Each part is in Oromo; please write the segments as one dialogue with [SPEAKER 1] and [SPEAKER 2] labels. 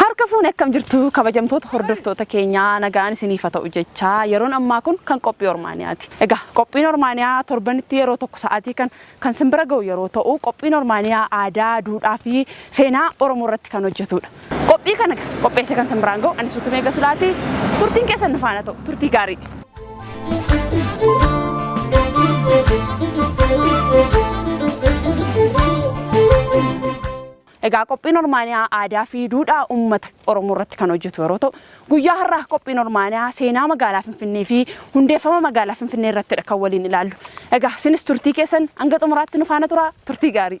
[SPEAKER 1] Harka fuun akkam jirtu kabajamtoota hordoftoota keenyaa nagaan isiniif haa ta'u jechaa yeroon ammaa kun kan qophii Ormaaniyaati. Egaa qophiin Ormaaniyaa torbanitti yeroo tokko sa'aatii kan kan sin bira ga'u yeroo ta'u, qophiin Ormaaniyaa aadaa, duudhaa fi seenaa Oromoo irratti kan hojjetuudha. Qophii kana qopheessee kan sin biraan ga'u ani Suutumee Gasulaati. Turtiin keessan nu faana ta'u. Turtii gaarii! Egaa qophiin Ormaaniyaa aadaa fi duudhaa uummata Oromoo irratti kan hojjetu yeroo ta'u, guyyaa har'aa qophiin Ormaaniyaa seenaa magaalaa Finfinnee fi hundeeffama magaalaa Finfinnee irrattidha kan waliin ilaallu. Egaa isinis turtii keessan hanga xumuraatti nu faana turaa turtii gaarii.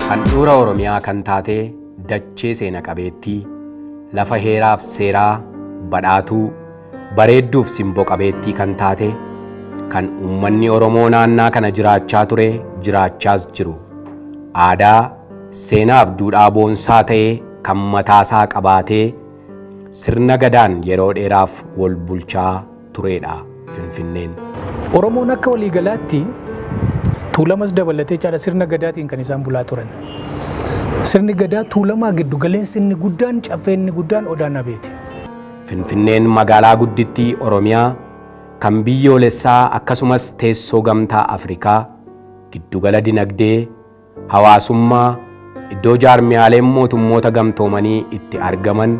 [SPEAKER 2] Handhuura Oromiyaa kan taate dachee seena qabeettii, lafa heeraaf seeraa, badhaatuu, bareedduuf simbo qabeettii kan taate, kan uummanni Oromoo naannaa kana jiraachaa ture, jiraachaas jiru, aadaa, seenaaf duudhaa boonsaa ta'e kan mataasaa qabaatee, sirna Gadaan yeroo dheeraaf wol bulchaa, tureedha Finfinneen. Oromoon
[SPEAKER 3] akka waliigalaatti Tuulamas dabalatee caala sirna gadaatiin kan isaan bulaa turan. Sirni gadaa Tuulamaa giddu galeessi inni guddaan caffee inni guddaan Odaa Nabeeti. Finfinneen
[SPEAKER 2] magaalaa guddittii Oromiyaa kan biyyoolessaa akkasumas teessoo gamtaa Afrikaa, giddugala dinagdee, hawaasummaa, iddoo jaarmiyaaleen mootummoota gamtoomanii itti argaman,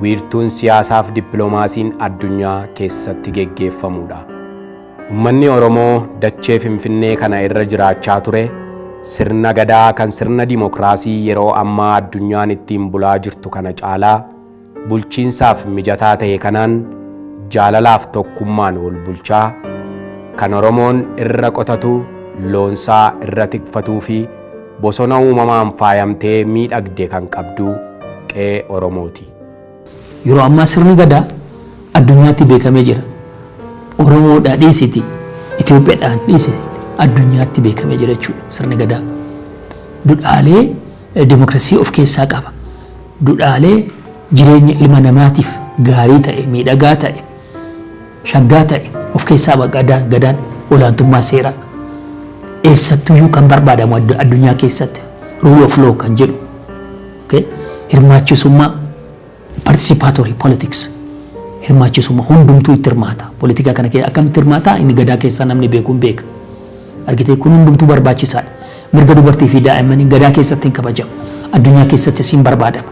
[SPEAKER 2] wiirtuun siyaasaaf dippilomaasiin addunyaa keessatti geggeeffamuudha. Ummanni Oromoo dachee Finfinnee kana irra jiraachaa ture sirna Gadaa kan sirna dimokiraasii yeroo ammaa addunyaan ittiin bulaa jirtu kana caalaa, bulchiinsaaf mijataa ta'e kanaan jaalalaaf tokkummaan wol bulchaa, kan Oromoon irra qotatu, loonsaa irra tikfatuufi bosona uumamaan faayamtee miidhagde kan qabdu qe'ee Oromooti. Yeroo
[SPEAKER 4] ammaa sirni Gadaa addunyaatti beekamee jira. Oromoodhaa dhiisiiti Itoophiyadhaan dhiisiiti addunyaatti beekamee jira jechuudha sirni Gadaa. Dudhaalee. demokrasii of keessaa qaba. Dudhaalee jireenya ilma namaatiif gaarii ta'e, miidhagaa ta'e, shaggaa ta'e of keessaa qaba Gadaan, Gadaan olaantummaa seeraa. Eessattuyyuu kan barbaadamu addu- addunyaa keessatti rule of law kan jedhu okay? hirmaachisummaa Participatory politics, hirmaachisumma, hundumtuu itti hirmaata. Politikaa kana kee akkamitti hirmaata? Inni gadaa keessaa namni beeku hin beeka. Argitee kun hundumtuu barbaachisaadha. Mirga dubartii fi daa'immanii gadaa keessatti hin kabajamu. Addunyaa keessattis hin barbaadama.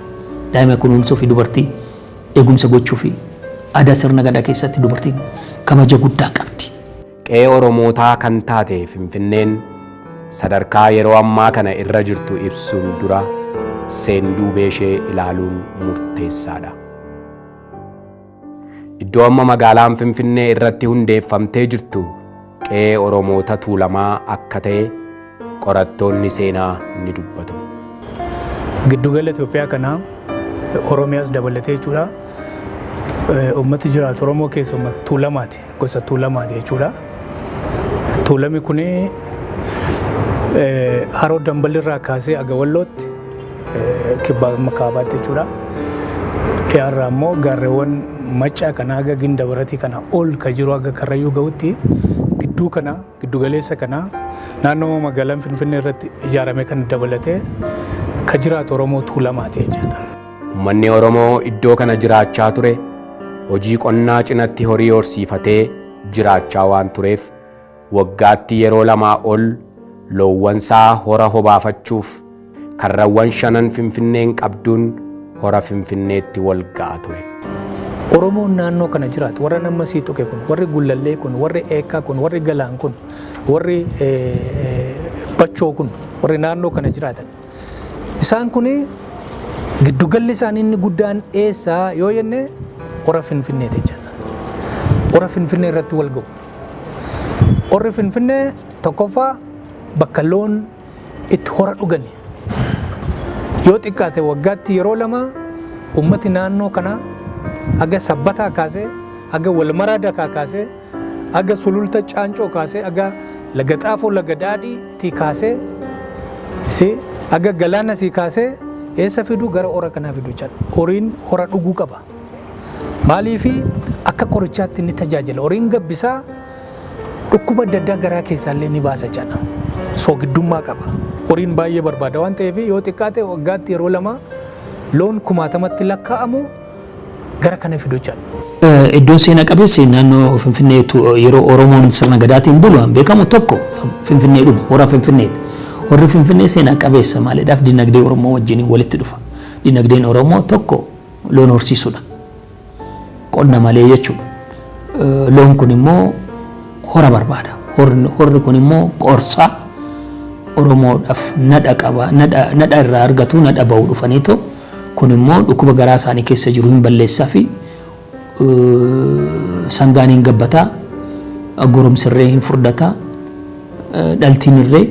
[SPEAKER 4] Daa'ima kunuunsuu fi dubartii eegumsa gochuu fi aadaa sirna gadaa keessatti dubartiin kabaja guddaa qabdi. Qe'ee
[SPEAKER 2] Oromootaa kan taate Finfinneen sadarkaa yeroo ammaa kana irra jirtu ibsuun dura seenduubeeshee ilaaluun murteessaadha. Iddoo amma magaalaan Finfinnee irratti hundeeffamtee jirtu qe'ee Oromoota Tuulamaa akka ta'e qorattoonni seenaa ni dubbatu.
[SPEAKER 3] Giddugala Itoophiyaa kana Oromiyaas dabalatee jechuudha. Uummati jiraatu Oromoo keessa uummata Tuulamaati. Gosa Tuulamaati jechuudha. Tuulami kun haroo Dambal irraa kaasee aga Wallootti kibbaa amma kaabaatti jechuudha. Dhiyaarraa immoo gaarreewwan Maccaa kana haga Ginda Baratii kana ol ka jiru haga Karrayyuu ga'utti gidduu kana Giddugaleessa kana naannoo magaalaan Finfinnee irratti ijaarame kan dabalatee ka jiraatu Oromoo Tuulamaati jechaadha. Ummanni
[SPEAKER 2] Oromoo iddoo kana jiraachaa ture hojii qonnaa cinatti horii horsiifatee jiraachaa waan tureef waggaatti yeroo lamaa ol loowwansaa hora hobaafachuuf Karrawwan shanan Finfinneen qabduun Hora Finfinneetti walga'a ture. Oromoon
[SPEAKER 3] naannoo kana jiraatu warra nama sii tuqe kun warri gullallee kun warri eekkaa kun warri galaan kun warri bachoo kun warri naannoo kana jiraatan isaan kun giddugalli isaanii inni guddaan eessaa yoo jenne hora finfinnee ta'e jenna. Hora finfinnee irratti wal ga'u. Horri finfinnee tokkoffaa bakka loon itti hora dhugani. Yoo xiqqaate waggaatti yeroo lama ummati naannoo kanaa aga sabbataa kaasee aga walmaraa dakaa kaasee aga sululta caancoo kaasee aga laga xaafoo laga daadhii tii kaasee si aga galaana sii kaasee eessa fiduu gara hora kanaa fiduu jedha. Horiin hora dhuguu qaba. Maaliifi akka qorichaatti ni tajaajila. Horiin gabbisaa Dhukkuba adda addaa garaa keessaallee ni baasa jedha. Soogiddummaa qaba. Horiin baay'ee barbaada waan ta'eef yoo xiqqaate waggaatti yeroo lama loon kumaatamatti lakkaa'amu gara kana fidu jedha. Iddoon seena
[SPEAKER 4] qabeessi naannoo Finfinnee yeroo Oromoon sirna gadaatiin bulu kan beekamu tokko Finfinnee dhuma hora Finfinneeti. Horri Finfinnee seena qabeessa maaliidhaaf dinagdee Oromoo wajjin walitti dhufa. Dinagdeen Oromoo tokko loon horsiisudha. Qonna malee jechuun loon kun immoo hora barbaada. Horri kun immoo qorsa Oromoodhaaf nadha qaba. Nadha irraa argatu nadha bahu dhufanii too kun immoo dhukkuba garaa isaanii keessa jiru hin balleessaa fi sangaan hin gabbataa goromsirree hin furdataa dhaltiin irree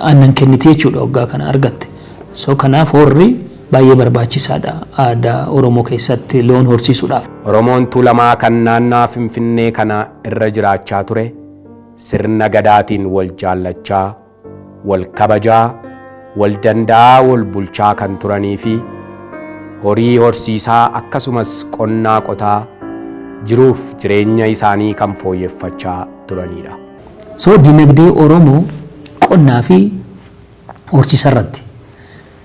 [SPEAKER 4] aannan kenniti jechuudha waggaa kana argatte. So kanaaf horri Baay'ee barbaachisaadha aadaa Oromoo keessatti loon horsiisuudhaaf. Oromoon Tuulamaa
[SPEAKER 2] kan naannawaa Finfinnee kana irra jiraachaa ture sirna Gadaatiin wal jaallachaa, wal kabajaa, wal danda'aa wal bulchaa kan turaniifi horii horsiisaa akkasumas qonnaa qotaa jiruuf jireenya isaanii kan fooyyeffachaa turaniidha. So
[SPEAKER 4] dinagdee Oromoo qonnaafi horsiisarratti.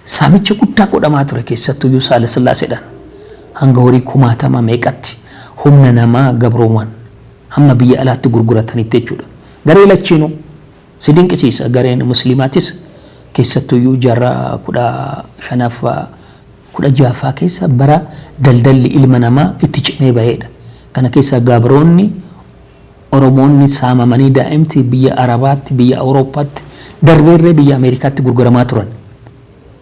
[SPEAKER 4] Saamicha guddaa godhamaa ture keessattuyyuu Saalasillaaseedhaan hanga horii kumaatama meeqatti humna namaa gabrooman hamma biyya alaatti gurguratanitti jechuudha. Garee lachiinuu. Si dinqisiisa gareen musliimaatis keessattuyyuu jaarraa 15ffaa 16ffaa keessa bara daldalli ilma namaa itti cimee baheedha. Kana keessa gabroonni Oromoonni saamamanii daa'imti biyya Arabaatti, biyya Awurooppaatti, darbeerree biyya Ameerikaatti gurguramaa turan.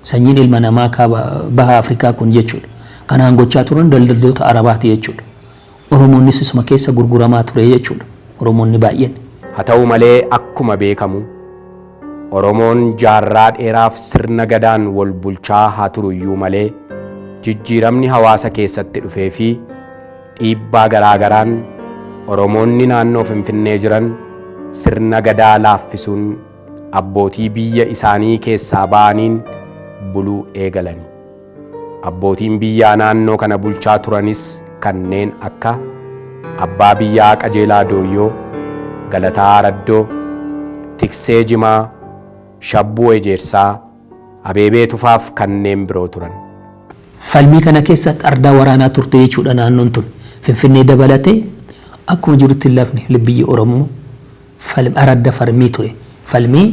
[SPEAKER 4] Sanyiin ilma namaa kaaba, baha Afrikaa kun jechuudha. Kanaan gochaa turan daldaltoota Arabaati jechuudha. Oromoonnis isuma keessa gurguramaa ture jechuudha. Oromoonni baay'een. Haa ta'u malee
[SPEAKER 2] akkuma beekamu Oromoon jaarraa dheeraaf sirna Gadaan wal bulchaa haa turuyyuu malee jijjiiramni hawaasa keessatti dhufeefi Dhiibbaa garaa garaan Oromoonni naannoo Finfinnee jiran sirna Gadaa laaffisuun abbootii biyya isaanii keessaa ba'aniin buluu eegalani. Abbootiin biyyaa naannoo kana bulchaa turanis kanneen akka Abbaa Biyyaa Qajeelaa Dooyyoo, Galataa Araddoo, Tiksee Jimaa, Shabbuu Ejeersaa, Abeebee Tufaaf kanneen biroo turan. Falmii
[SPEAKER 4] kana keessatti ardaa waraanaa turte jechuudha naannoon tun. Finfinnee dabalatee akkuma jirutti lafni biyyi Oromoo falm aradda farmii ture. Falmii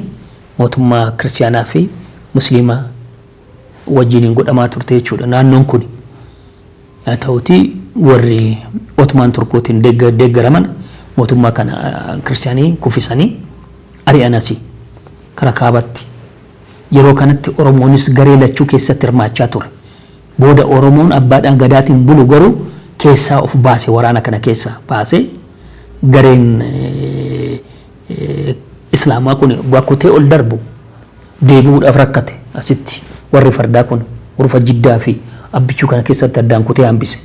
[SPEAKER 4] mootummaa Kiristiyaanaa fi Musliimaa wajjiniin godhamaa turte jechuudha naannoon kuni. Haa ta'uutii warri Otmaan Turkootiin deeggaraman mootummaa kana Kiristiyaanii kuffisanii ari'an asi. Kara Kaabatti. Yeroo kanatti Oromoonis garee lachuu keessatti hirmaachaa ture. Booda Oromoon Abbaadhaa Gadaatiin bulu garuu keessaa of baase waraana kana keessaa baase. Gareen Islaamaa kun waggaa kutee ol darbu deebi'uudhaaf rakkate. Asitti warri fardaa kun urufa Jiddaa fi Abbichuu kana keessatti addaan kutee hambise.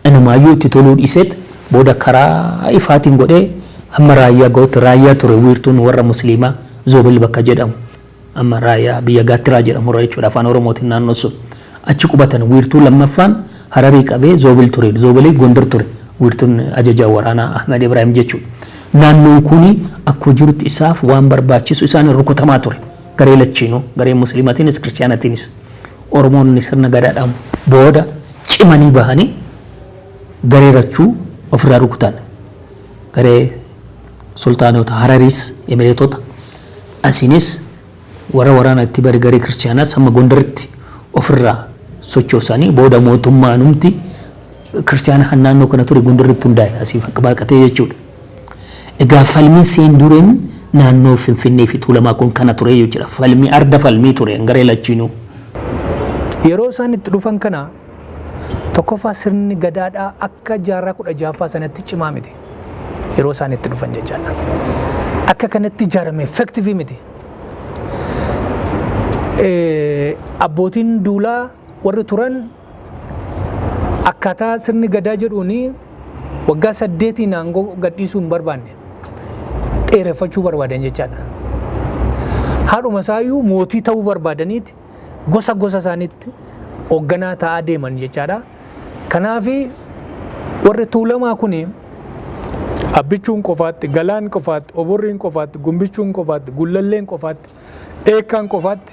[SPEAKER 4] Inumaayyuu itti toluu dhiiseet booda karaa ifaatiin godhee hamma raayyaa ga'utti raayyaa ture wiirtuun warra musliimaa Zoobel bakka jedhamu. Amma Raayyaa, biyya Gaattiraa jedhamu irra jechuudha, Afaan Oromootiin naannoon sun. Achi qubatan. Wiirtuu lammaffaan Hararii qabee Zoobil ture. Zoobili Gondar ture. Wiirtuun ajajaa waraanaa Ahmed Ibraahim jechuudha. Naannoon kun akkuma jirutti isaaf waan barbaachisu isaaniin rukutamaa ture. Garee lachiinuu, garee Musliimatiinis, Kiristiyaanatiinis. Oromoonni sirna Gadaadhaan booda cimanii bahanii garee lachuu ofirraa rukutan. Garee Sultaanota Harariis, Emireetota. Asiinis warra waraana itti bare garee Kiristiyaanaas hamma Gondaritti of irraa sochoosani. Booda mootummaanumti Kiristiyaana kan naannoo kana ture Gondaritti hundaa'e asii baqatee jechuudha. Egaa falmiin seendureen naannoo Finfinnee fi Tuulamaa kun kana ture jechuudha. Falmii arda falmii ture garee
[SPEAKER 3] lachiinuu. Yeroo
[SPEAKER 4] isaan itti
[SPEAKER 3] dhufan
[SPEAKER 4] kana
[SPEAKER 3] tokkoffaa sirni Gadaadhaa akka jaarraa 16ffaa sanatti cimaa miti. yeroo isaan itti dhufan jechaadha. Akka kanatti ijaarame effektivii miti. Abbootiin duulaa warri turan akkaataa sirni gadaa jedhuun waggaa saddeetiin aangoo gadhiisuu hin barbaanne dheereffachuu barbaadan jechaadha. Haadhuma isaayyuu mootii ta'uu barbaadaniiti gosa gosa isaaniitti hoogganaa ta'aa deeman jechaadha. Kanaaf warri tuulamaa kun abbichuun qofaatti, galaan qofaatti, oborriin qofaatti, gumbichuun qofaatti, gullalleen qofaatti, eekkaan qofaatti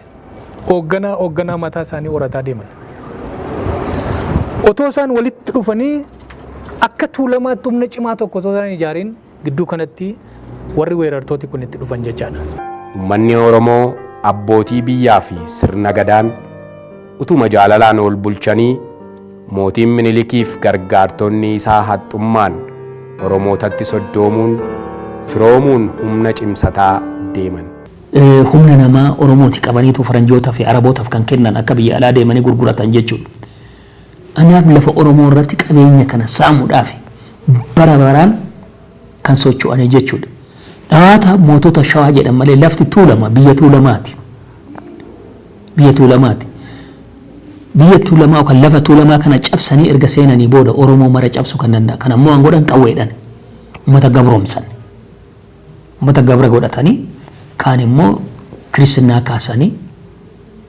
[SPEAKER 3] hoogganaa hoogganaa mataa isaanii horataa deeman. Otoo isaan walitti dhufanii akka tuulamaatti humna cimaa tokko osoo isaan hin ijaariin Gidduu kanatti warri weerartooti kun itti dhufan jechaadha. Ummanni
[SPEAKER 2] Oromoo abbootii biyyaa fi sirna Gadaan utuma jaalalaan ol bulchanii mootiin Minilikii fi gargaartonni isaa haxxummaan Oromootatti soddoomuun firoomuun humna cimsataa deeman. Humna
[SPEAKER 4] namaa Oromooti qabaniitu Faranjootaa fi Arabootaf kan kennan akka biyya alaa deemanii gurguratan jechuudha. Anaab lafa Oromoo irratti qabeenya kana saamudhaaf bara baraan kan socho'anii jechuudha. Dhawaata mootota Shawaa jedhan malee lafti Tuulama biyya Tuulamaati. Biyya Tuulamaati. Biyya Tuulamaa yookaan lafa Tuulamaa kana cabsanii erga seenanii booda Oromoo mara cabsuu kan danda'a. Kan ammoo waan godhan qawweedhaan uummata gabroomsan. Ummata gabra godhatanii kaan immoo kiristinnaa kaasanii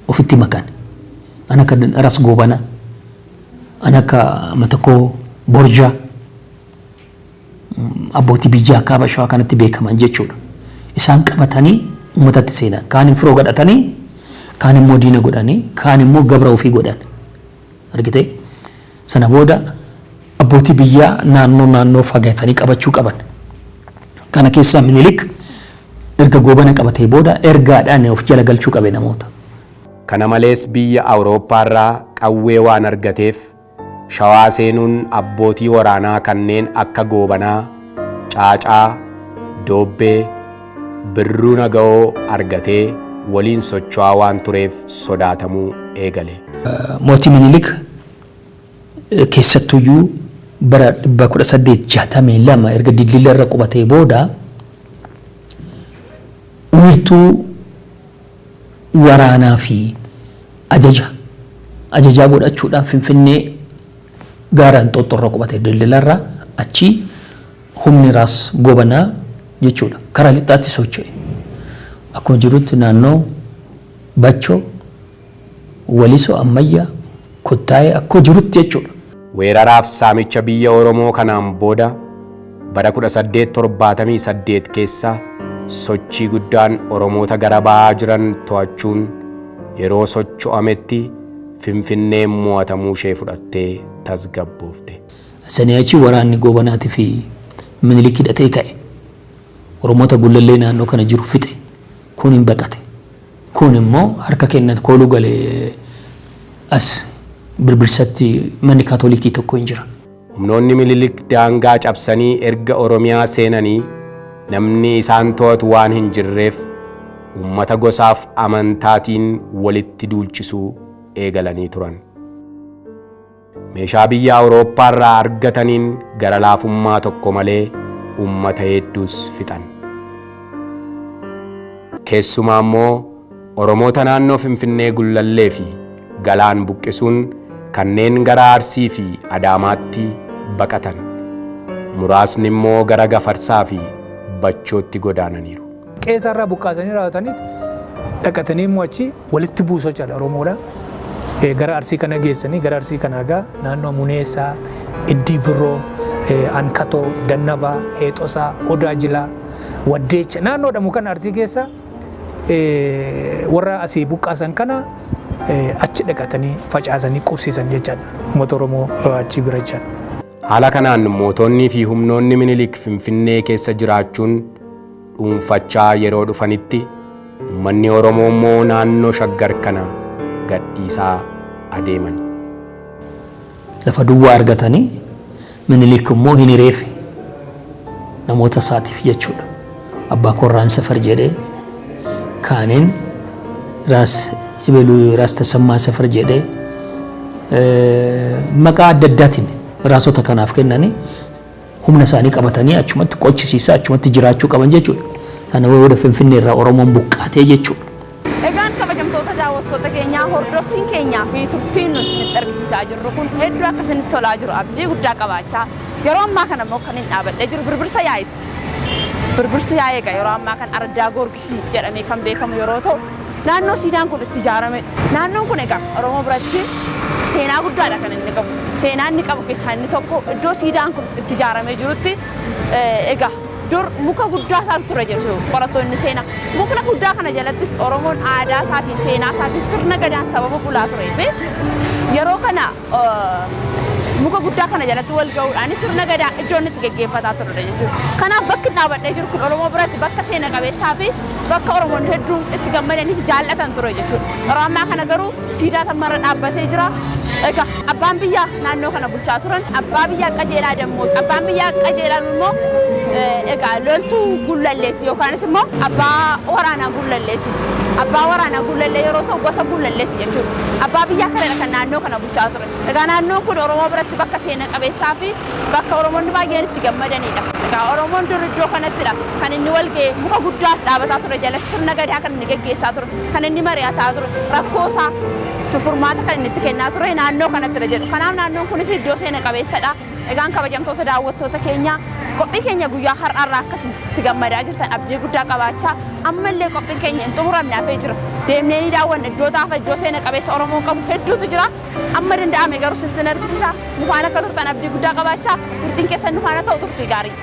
[SPEAKER 4] ofitti makan. An akka Ras Goobana, an akka Matakkoo Borja, abbootii biyyaa kaaba shawaa kanatti beekaman jechuudha. Isaan qabatanii ummatatti seenan. Kaan hin firoo godhatanii, kaan immoo diina godhanii, kaan immoo gabra ofii godhan. Argitee? Sana booda abbootii biyyaa naannoo naannoo fagatanii qabachuu qaban. Kana keessaa Minilik erga Goobana qabatee booda ergaadhaan of jala galchuu qabe namoota. Kana malees
[SPEAKER 2] biyya Awurooppaarraa qawwee waan argateef Shawaa seenuun abbootii waraanaa kanneen akka Goobanaa, Caacaa, Doobbee, Birruun aga'oo argatee waliin socho'aa waan tureef sodaatamuu eegale. Mootii
[SPEAKER 4] Minilik keessattuyyuu bara 1862 erga Dildilla irra qubatee booda wiirtuu waraanaa fi ajaja ajajaa godhachuudhaan Finfinnee gaara Inxooxxoo irra qubate Dildilla irra achii Humni Raas Goobanaa jechuudha karaa lixaatti socho'e akkuma jirutti naannoo Bacho, Waliso, Ammayya, Kottaayee akkuma jirutti jechuudha. Weeraraaf
[SPEAKER 2] saamicha biyya Oromoo kanaan booda bara 1878 keessa sochii guddaan Oromoota gara bahaa jiran to'achuun yeroo socho'ametti Finfinneen mo'atamuu ishee fudhattee tasgabboofte. Sanii achi
[SPEAKER 4] waraanni Goobanaatii fi Minilik hidhatee ka'e. Oromoota Gullallee naannoo kana jiru fixe. Kuun hin baqate. Kuun immoo harka kenna kooluu gale as Birbirsatti manni Kaatolikii tokko hin jira. Humnoonni Minilik
[SPEAKER 2] daangaa cabsanii erga Oromiyaa seenanii namni isaan to'atu waan hin jirreef uummata gosaaf amantaatiin walitti duulchisuu eegalanii turan. Meeshaa biyya Awurooppaa irraa argataniin gara laafummaa tokko malee uummata heedduus fixan. Keessumaa immoo Oromoota naannoo Finfinnee Gullallee fi Galaan buqqisuun kanneen gara Arsii fi Adaamaatti baqatan, muraasni immoo gara Gafarsaa fi Bachootti godaananiiru. Qeesaa irraa buqqaasanii
[SPEAKER 3] raawwataniit dhaqatanii immoo achi walitti buusoo caala Oromoodha. Gara Arsii kana geessanii gara Arsii kana egaa naannoo Muneessaa, Iddii Birroo, Ankatoo, Dannabaa, Heexosaa, Odaa Jilaa, Waddeecha naannoodha mukan Arsii keessa warra asii buqqaasan kana achi dhaqatanii facaasanii qubsiisan jechaadha uummata Oromoo achi bira jechaan. Haala kanaan
[SPEAKER 2] mootonnii fi humnoonni Minilik Finfinnee keessa jiraachuun dhuunfachaa yeroo dhufanitti ummanni Oromoo immoo naannoo Shaggar kana gadhiisaa adeeman.
[SPEAKER 4] Lafa duwwaa argatanii Minilik immoo hin hireefi namoota isaatiif jechuudha. Abbaa koo Irraan Safar jedhee kaaniin Raas Ibeluu Raas Tasammaa Safar jedhee maqaa adda addaatiin raasota kanaaf kennanii humna isaanii qabatanii achumatti qochisiisaa achumatti jiraachuu qaban jechuudha. Sana booda Finfinnee irraa Oromoon buqqaatee jechuudha. Egaan
[SPEAKER 1] kabajamtoota daawwattoota keenyaa hordoffiin keenyaa fi turtiin nu isinitti argisiisaa jirru kun hedduu akka isinitti tolaa jiru abdii guddaa qabaachaa yeroo ammaa kana immoo kan hin dhaabadhee jiru birbirsa yaa'itti. Birbirsi yaa'ii egaa yeroo ammaa kan araddaa goorgisa. Arsii jedhamee kan beekamu yeroo ta'u, naannoo siidaan kun itti ijaarame. Naannoon kun egaa Oromoo biratti seenaa guddaadha kan inni qabu. Seenaa inni qabu keessaa inni tokko iddoo siidaan kun itti ijaaramee jirutti egaa dur muka guddaa isaatu ture jedhu qorattoonni seenaa. Mukna guddaa kana jalattis Oromoon aadaa isaatiin seenaa isaatiin sirna gadaan sababa bulaa turee fi yeroo kana muka guddaa kana jalatti wal ga'uudhaan sirna gadaa iddoo inni itti geggeeffataa turre jechuudha. Kanaaf bakki dhaabadhee jiru kun Oromoo biratti bakka seena qabeessaa fi bakka Oromoon hedduun itti gammadanii fi jaallatan ture jechuudha. Yeroo ammaa kana garuu siidaa tammarra dhaabbatee jira. Egaa abbaan biyyaa naannoo kana bulchaa turan abbaa biyyaa qajeelaa dammooti. Abbaan biyyaa qajeelaan immoo egaa loltuu gullalleeti yookaanis immoo abbaa waraanaa gullalleeti. Abbaa waraanaa gullallee yeroo ta'u gosa gullalleeti jechuudha. Abbaa biyyaa kanadha kan naannoo kana bulchaa ture. Egaa naannoon kun Oromoo biratti bakka seena qabeessaa fi bakka Oromoonni baay'een itti gammadaniidha. Egaa Oromoon dur iddoo kanattidha kan inni wal ga'e. Muka guddaas dhaabataa ture jalatti sirna gadaa kan inni geggeessaa ture. Kan inni mari'ataa ture. Rakkoo isaa furmaata kan inni itti kennaa ture naannoo kanattidha jedhu. Kanaaf naannoon kunis iddoo seena qabeessadha. Egaan kabajamtoota daawwattoota keenyaa qophii keenya guyyaa har'aa irraa akkasii itti gammadaa jirtan abdii guddaa qabaachaa ammallee qophiin keenya hin xumuramne hafee jira deemnee ni daawwanna iddoo taafa iddoo seena qabeessa Oromoon qabu hedduutu jira amma danda'ame garuu sitti nargisisaa nufaan akka turtan abdii guddaa qabaachaa turtiin keessan nufaana ta'u turtii gaarii.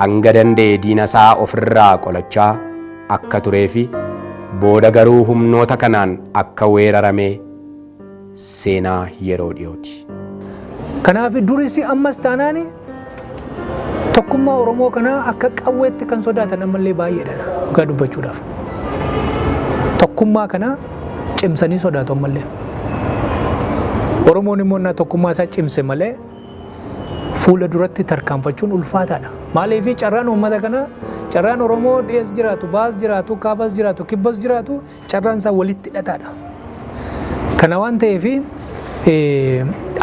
[SPEAKER 2] Hanga danda'e diina isaa of irraa qolachaa akka turee fi booda garuu humnoota kanaan akka weerarame seenaa yeroo dhiyooti. Kanaaf
[SPEAKER 3] duris ammas taanaan tokkummaa Oromoo kanaa akka qawweetti kan sodaatan ammallee baay'eedha dhugaa dubbachuudhaaf. Tokkummaa kana cimsanii sodaatu ammallee. Oromoon immoo innaa tokkummaa isaa cimse malee fuula duratti tarkaanfachuun ulfaataadha. Maaliif carraan uummata kana carraan Oromoo dhiyees jiraatu, baas jiraatu, kaabas jiraatu, kibbas jiraatu carraan isaa walitti hidhataadha. Kana waan ta'eef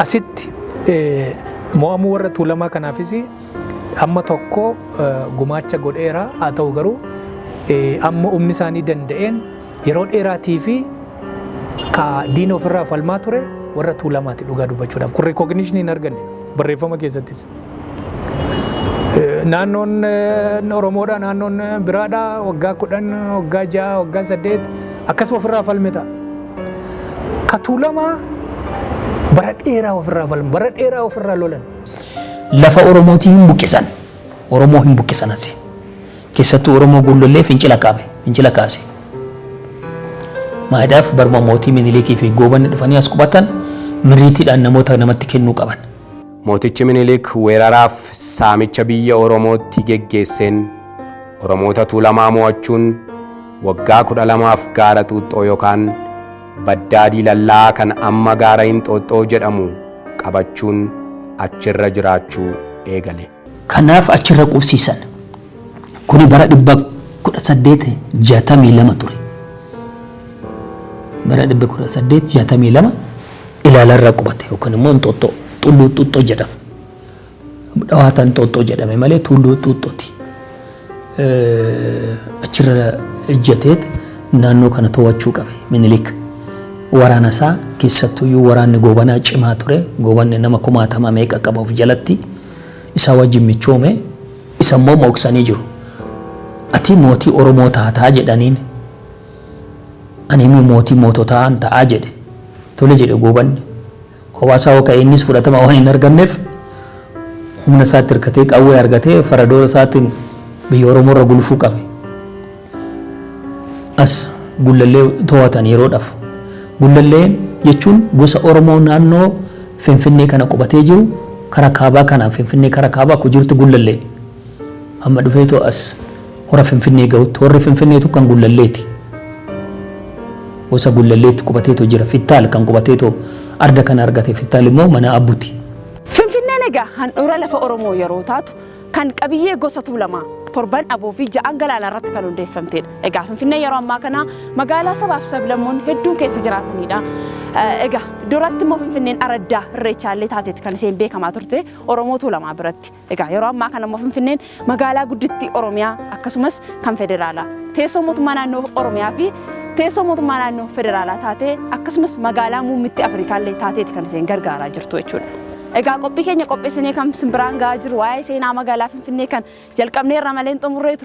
[SPEAKER 3] asitti mo'amuu warra tuulamaa kanaafis amma tokko gumaacha godheera haa ta'u garuu amma humni isaanii danda'een Yeroo dheeraatii fi ka diina ofirraa falmaa ture warra tuulamaati dhugaa dubbachuudhaaf. Kun rikooginishinii hin arganne barreeffama keessattis. Naannoon Oromoodha, naannoon biraadha, waggaa kudhan, waggaa ja'a, waggaa saddeet akkas ofirraa falme ta'a. Ka tuulamaa bara dheeraa ofirraa falme, bara dheeraa ofirraa lolan. Lafa
[SPEAKER 4] Oromootii hin buqqisan. Oromoo hin buqqisan asi. Keessattuu Oromoo Guullollee fincila kaame, fincila kaase. Maadhaaf baruma mootii Miniliikii fi Goobanni dhufanii as qubatan mirriitiidhaan namoota namatti kennuu qaban. Mootichi
[SPEAKER 2] Miniliik weeraraaf saamicha biyya Oromootti geggeesseen Oromoota Tuulamaa moo'achuun waggaa 12f Gaara Xuuxxoo yokaan Baddaa Diilallaa kan amma Gaara Inxooxxoo jedhamu qabachuun achirra jiraachuu eegale. Kanaaf achirra
[SPEAKER 4] qubsiisan. Kuni bara 1862 ture. Bara 1862 Ilaalarra qubate yookaan immoo Inxooxxoo Tulluu Xuuxxoo jedhama. Dhawaata Inxooxxoo jedhame malee Tulluu Xuuxxooti. achirra ejjateet naannoo kana to'achuu qabe minilik waraana isaa keessattuyyuu waraanni goobanaa cimaa ture goobanni nama kumaatama meeqa qaba of jalatti isaa wajjin michoome isa immoo mooksanii jiru ati mootii oromoo taataa jedhaniin ani immoo mootii moototaan ta'aa jedhe tole jedhe goobanni Kophaa isaa hoo ka'e innis fudhatama waan hin arganneef humna isaatti hirkatee qawwee argatee faradoo isaatiin biyya Oromoo irra gulufuu qabe. As Gullallee to'atan yeroodhaaf. Gullallee jechuun gosa Oromoo naannoo Finfinnee kana qubatee jiru karaa kaabaa kanaan Finfinnee karaa kaabaa akkuma jirtu Gullallee. Amma dhufeetoo as hora Finfinnee gahutti horri Finfinneetu kan Gullalleeti. Gosa Gullalleetti qubateetoo jira. Fittaal kan qubateetoo arda kana argate Fittaal immoo mana Abbuti. Finfinneen
[SPEAKER 1] egaa handhuura lafa Oromoo yeroo taatu kan qabiyyee gosa Tuulamaa, torban Aboo fi ja'an Galaanaa irratti kan hundeeffamteedha. Egaa Finfinneen yeroo ammaa kana magaalaa sabaa fi sablammoonni hedduun keessa jiraataniidha. Egaa duratti immoo Finfinneen araddaa Irreechaa illee taateetti kan isheen beekamaa turte Oromoo Tuulamaa biratti. Egaa yeroo ammaa kana immoo Finfinneen magaalaa guddittii Oromiyaa akkasumas kan federaalaa teessoo mootummaa naannoo Oromiyaa fi teessoo mootummaa naannoo federaalaa taatee akkasumas magaalaa muummitti Afrikaallee taateeti kan isheen gargaaraa jirtu jechuudha. Egaa qophii keenya qopheessinee kan simbiraan ga'aa jiru waa'ee seenaa magaalaa Finfinnee kan jalqabneerra malee hin xumurree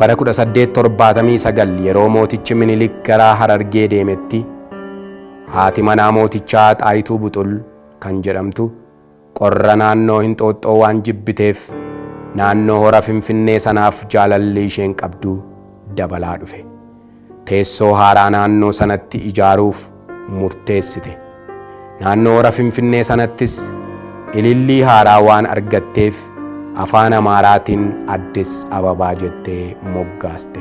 [SPEAKER 2] Bara 1879 yeroo mootichi Minilik gara Harargee deemetti haati manaa mootichaa Xaayituu Buxul kan jedhamtu qorra naannoo Hinxooxxoo waan jibbiteef naannoo hora Finfinnee sanaaf jaalalli isheen qabdu dabalaa dhufe. teessoo haaraa naannoo sanatti ijaaruuf murteessite. Naannoo hora Finfinnee sanattis ilillii haaraa waan argatteef Afaan Amaaraatiin Addis Ababaa jettee moggaaste.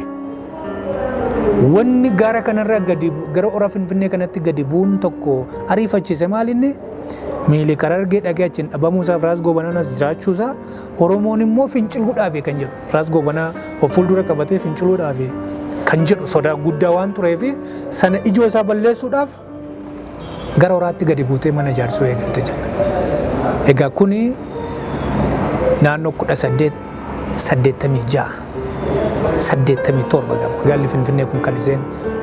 [SPEAKER 3] Wanni gaara kanarra gadi gara hora Finfinnee kanatti gadi bu'uun tokko ariifachiise maalinni? Miilik Harargee dhaqee achiin dhabamuusaaf Raas Goobananas jiraachuusaa Oromoon immoo finciluu dhaabe kan jedhu Raas Goobanaa of fuuldura qabatee finciluu dhaabe kan jedhu sodaa guddaa waan tureef sana ijoo isaa balleessuudhaaf gara horaatti gadi buutee mana ijaarsuu eegalte jedha. Egaa kuni naannoo kudha saddeet saddeettamii ja'a saddeettamii torba gama magaalli Finfinnee kun kan isheen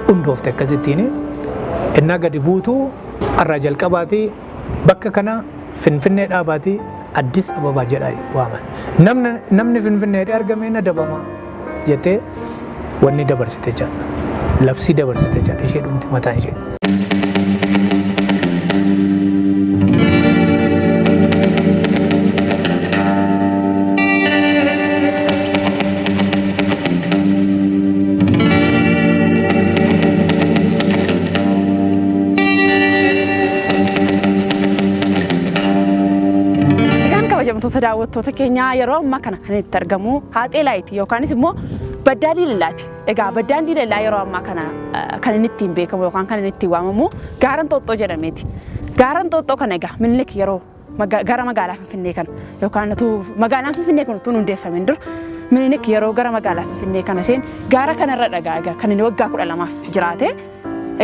[SPEAKER 3] hundoofte akkasittiin innaa gadi buutu irraa jalqabaati Bakka kana Finfinnee dhaabaatii Addis Ababa jedha waaman. Namni namni Finfinnee hidhee argame hin adabama jettee wanni dabarsite jedha. Labsii dabarsite jedha ishee dhumti mataan ishee.
[SPEAKER 1] Egaan kabajamtoota daawwattoota keenyaa yeroo ammaa kana kan itti argamu haaxee laayiti yookaanis immoo baddaa diilalaati. Egaa baddaan diilalaa yeroo ammaa kana eh, kan inni ittiin beekamu yookaan kan inni ittiin waamamu gaaran xooxxoo jedhameeti. Gaaran xooxxoo kana egaa minilik yeroo maga- gara magaalaa Finfinnee kana yookaan utuu magaalaan Finfinnee kun utuu hin hundeeffamin dura Minilik yeroo gara magaalaa Finfinnee kana seenu gaara kanarra dhagaa egaa kan inni waggaa kudha lamaaf jiraate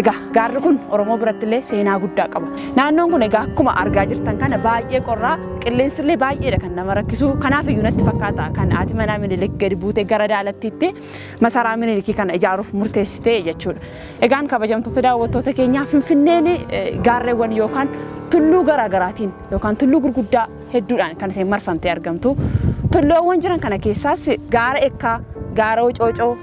[SPEAKER 1] egaa gaarri kun Oromoo biratti illee seenaa guddaa qaba. Naannoon kun egaa akkuma argaa jirtan kana baay'ee qorraa qilleensi illee baay'eedha kan nama rakkisu kanaaf iyyuu natti fakkaata kan haati manaa Minilik gadi buutee gara daalattiitti masaraa Minilikii kana ijaaruuf murteessite jechuudha. Egaan kabajamtoota daawwattoota keenyaa Finfinneen gaarreewwan yookaan tulluu garaagaraatiin yookaan tulluu gurguddaa hedduudhaan kan isheen marfamtee argamtu. Tulluuwwan jiran kana keessaas gaara Ekkaa, gaara Ocoocoo,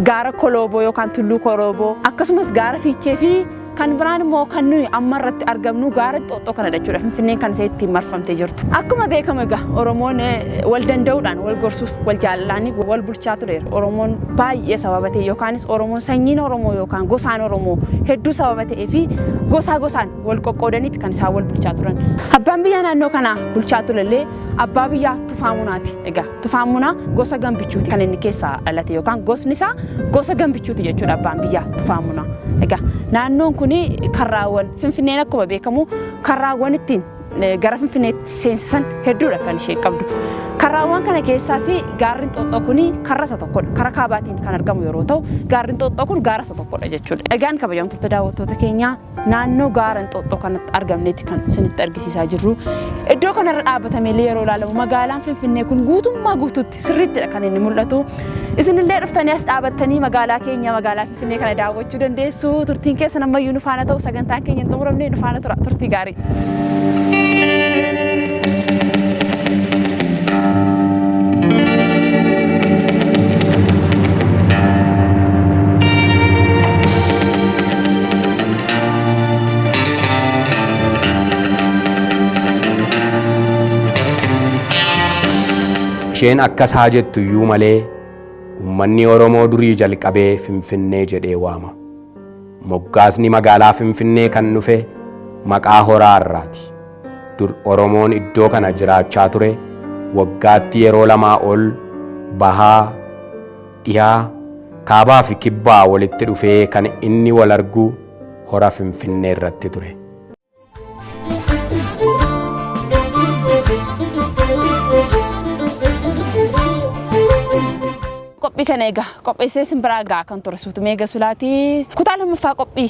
[SPEAKER 1] gaara Kolooboo yookaan tulluu Kolooboo akkasumas gaara Fiichee fi Kan biraan immoo kan nuyi amma irratti argamnu gaara xoxxoo kana jechuudha. Finfinneen kan ishee ittiin marfamtee jirtu. Akkuma beekamu egaa Oromoon wal danda'uudhaan wal gorsuuf wal jaalalaanii wal bulchaa tureera. Oromoon baay'ee sababa ta'e yookaanis Oromoon sanyiin Oromoo yookaan gosaan Oromoo hedduu sababa ta'ee fi gosaa gosaan wal qoqqoodaniiti kan isaan wal bulchaa turan. Abbaan biyyaa naannoo kanaa bulchaa turellee abbaa biyyaa Tufaa Munaati egaa. Tufaan Munaa gosa gambichuuti kan inni keessaa dhalate yookaan gosni isaa gosa gambichuuti jechuudha abbaan biyyaa Tufaan Munaa. Egaa naannoon kun karraawwan Finfinneen akkuma beekamu karraawwan ittiin gara Finfinneetti seensisan hedduudha kan isheen qabdu. Karraawwan kana keessaas gaarri Inxooxxoo kun karra isa tokkodha. Kara kaabaatiin kan argamu yeroo ta'u gaarri Inxooxxoo kun gaara isa tokkodha jechuudha. Egaan kabajamtoota daawwattoota keenyaa Naannoo gaara Inxooxxoo kanatti argamnetti kan isinitti argisiisaa jirru. Iddoo kanarra dhaabbatamee illee yeroo ilaalamu magaalaan Finfinnee kun guutummaa guutuutti sirriittidha kan inni mul'atu. Isinillee dhuftanii as dhaabattanii magaalaa keenya magaalaa Finfinnee kana daawwachuu dandeessu. Turtiin keessan ammayyuu nu faana ta'u sagantaan keenya hin xumuramne nu faana tura turtii gaarii.
[SPEAKER 2] Isheen akkas haa jettu iyyuu malee uummanni Oromoo durii jalqabee Finfinnee jedhee waama. Moggaasni magaalaa Finfinnee kan dhufe maqaa horaa irraati. Dur Oromoon iddoo kana jiraachaa ture waggaatti yeroo lamaa ol Bahaa, Dhiha, Kaabaafi Kibbaa walitti dhufee kan inni walargu Hora Finfinneerratti ture.
[SPEAKER 1] Qophii kana egaa qopheessee isin biraa gahaa kan ture Suutumee Gasulaati. Kutaa lammaffaa qophii